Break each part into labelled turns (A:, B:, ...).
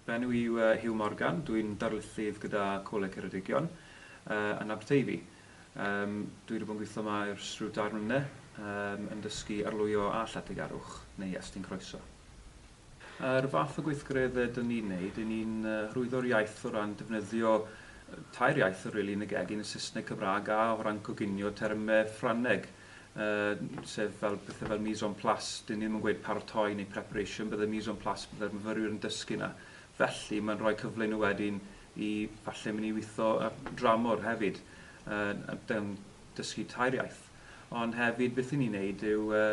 A: Fy enw i yw Huw Morgan, dwi'n darlithydd gyda Coleg Ceredigion yn Aberteifi. Dwi 'di bod yn gweithio yma ers rhyw dair mlynedd yn dysgu arlwyo a lletygarwch, neu estyn croeso. Yr fath o gweithgareddau dyn ni'n neud, y'n ni'n hyrwyddo'r iaith o ran defnyddio tair iaith rili yn y gegin, y Saesneg, Cymraeg a o ran coginio termau Ffrangeg, sef fel pethau fel mise en place, dyn ni ddim yn gweud paratoi neu preparation, bydde mise en place, bydde'r myfyrwyr yn dysgu yna. Felly, mae'n rhoi cyfle i nhw wedyn i falle mynd i weithio dramor hefyd, yn dysgu tair iaith. Ond hefyd beth 'y ni'n neud yw yy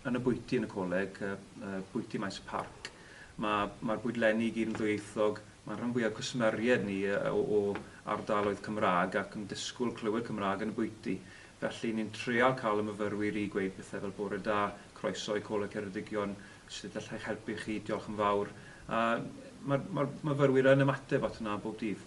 A: yn y bwyty yn y coleg yy yy bwyty Maes y Parc ma' ma'r bwydlenni i gyd yn ddwyieithog, ma'r rhan fwya o cwsmeried ni yy o o ardaloedd Cymra'g ac yn disgwl clywed Cymra'g yn y bwyty felly ni'n treial ca'l y myfyrwyr i gweud pethe fel bore da, croeso i Coleg Ceredigion, sud allai helpu chi, diolch yn fawr a ma'r ma'r myfyrwyr yn ymateb at hwnna bob dydd.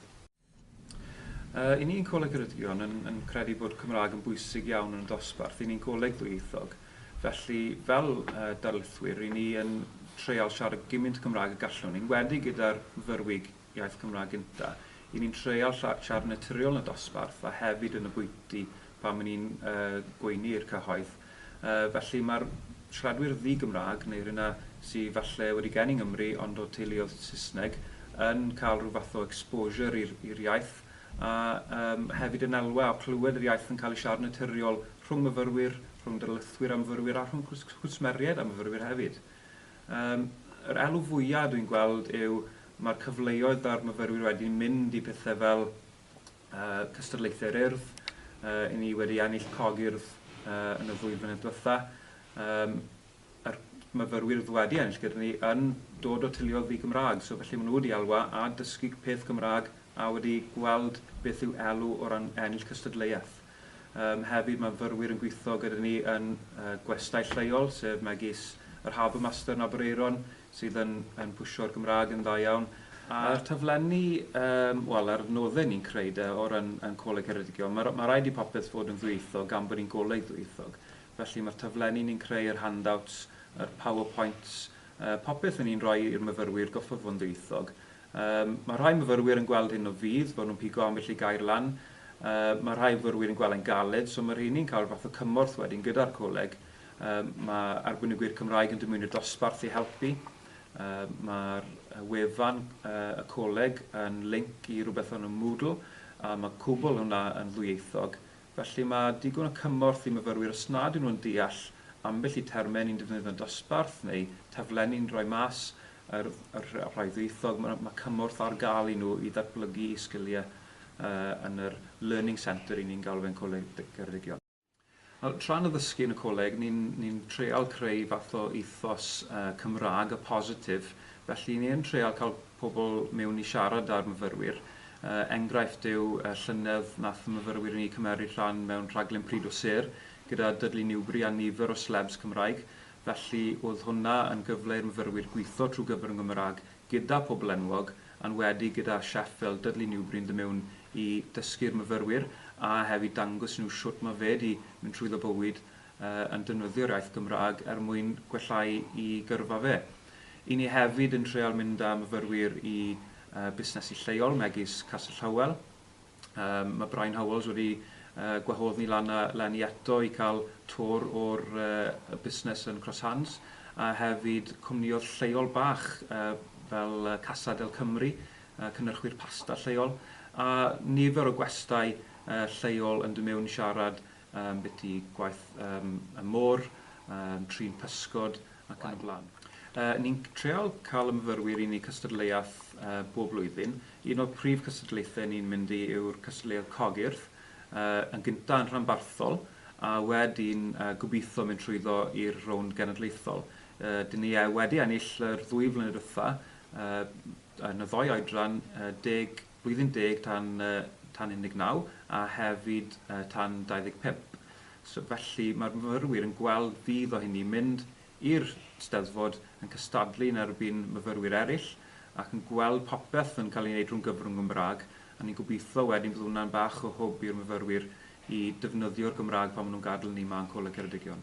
A: Yy, 'y ni'n Coleg Ceredigion yn yn credu bod Cymraeg yn bwysig iawn yn y dosbarth, 'y ni'n Goleg ddwyieithog, felly fel yy darlithwyr, 'ryn ni yn treial siarad gymint Cymraeg y gallwn, yn enwedig gyda'r fyfyrwyg iaith Cymraeg gynta', 'y ni'n treial lla- siarad yn naturiol yn y dosbarth a hefyd yn y bwyty pan 'y ni'n yy gweini i'r cyhoedd. Felly mae'r siaradwyr ddi-Gymraeg, neu rheina sy falle wedi geni yng Nghymru ond o teuluoedd Saesneg, yn cael rhyw fath o exposure i'r i'r iaith, a yym hefyd yn elwa o clywed yr iaith yn cael ei siarad yn naturiol rhwng myfyrwyr, rhwng darlithwyr a myfyrwyr a rhwng cws- cwsmeriaid a myfyrwyr hefyd. Yym yr elw fwya dwi'n gweld yw mae'r cyfleoedd a'r myfyrwyr wedyn mynd i pethe fel cystadlaethau'r Urdd. Yy, i ni wedi ennill cog Urdd yy, yn y ddwy flynedd diwetha'. Yym, a'r myfyrwyr oedd wedi ennill gyda ni yn dod o teuluoedd ddi-Gymraeg, so felly maen nhw wedi elwa a dysgu peth Gymraeg a wedi gweld beth yw elw o ran ennill cystadleuaeth. Yym, hefyd mae myfyrwyr yn gweithio gyda ni yn yy gwestai lleol, sef megis yr Harbour Master yn Aberaeron, sydd yn yn pwsio'r Gymraeg yn dda iawn. A'r taflenni yym wel a'r nodde ni'n creu de o ran ein Coleg Ceredigion ma' r- ma' raid i popeth fod yn ddwyieithog gan bod ni'n goleg ddwyieithog felly ma'r taflenni ni'n creu yr handouts yr power points yy popeth o'n ni'n roi i'r myfyrwyr goffod fod yn ddwyieithog. Yym ma' rhai myfyrwyr yn gweld hyn o fudd fod nhw'n pigo ambell i gair lan yy ma' rhai myfyrwyr yn gweld e'n galed so ma' rheiny'n cael fath o cymorth wedyn gyda'r coleg Mae arbenigwyr Cymraeg yn dymuno dosbarth i helpu. Mae'r wefan y coleg yn linc i rywbeth o'r enw Moodle, a mae cwbl hwnna yn ddwyieithog. Felly mae digon o cymorth i myfyrwyr os nad yw nhw'n deall ambell i termau ni'n defnyddio'n dosbarth neu taflenni ni'n rhoi mas yr rhai ddwyieithog, mae cymorth ar gael i nhw i ddatblygu'u sgiliau yn yr Learning Centre ry'n ni'n galw fe'n Coleg Ceredigion. Tra'n addysgu yn y coleg, ni'n treial creu fath o ethos Cymraeg a positif, felly ni yn treial cael pobl miwn i siarad â'r myfyrwyr. Enghraifft yw y llynedd nath myfyrwyr i ni cymeryd rhan mewn rhaglen Pryd o Sêr gyda Dudley Newbury a nifer o slebs Cymraeg, felly o'dd hwnna yn gyfle i'r myfyrwyr gwitho trw gyfrwng y Gymraeg gyda phobl enwog, yn wedi gyda chef fel Dudley Newbury yn dod mewn i dysgu'r myfyrwyr a hefyd dangos i nhw shwt mae fe 'di mynd trwyddo bywyd yn defnyddio'r iaith Gymraeg er mwyn gwella'u i gyrfa fe. I ni hefyd yn treial mynd â myfyrwyr i busnesu lleol megis Castell Hywel, Yym, mae Brian Howells wedi yy gwahodd ni lan a lan i eto i cael twr o'r yy busnes yn Cross Hands, a hefyd cwmniodd lleol bach yy fel yy Casa del Cymru, yy cynyrchwyr pasta lleol, a nifer o gwestai yy lleol yn dod mewn i siarad um, beth i gwaith um, y môr, um, trin pysgod ac yn y blaen. Uh, ni'n treol cael ymfyrwyr i ni cystadleuaeth uh, bob blwyddyn. Un o'r prif cystadlaethau ni'n mynd i yw'r cystadleuaeth cogyrth, uh, yn gyntaf yn rhanbarthol, a wedyn uh, gobeithio mynd trwyddo i'r rownd genedlaethol. Uh, dyn ni uh, wedi ennill yr ddwy flynedd wrtha, uh, yn y ddoi oedran, uh, 10 Blwyddyn deg tan tan 19 a hefyd tan 25. So felly mae'r myfyrwyr yn gweld budd o hynny mynd i'r Steddfod yn cystadlu yn erbyn myfyrwyr eraill ac yn gweld popeth yn cael ei wneud rhwng gyfrwng Gymraeg a ni'n gobeithio wedyn bydd hwnna'n bach o hwb i'r myfyrwyr i defnyddio'r Gymraeg pan maen nhw'n gadel ni 'ma yn Coleg Ceredigion.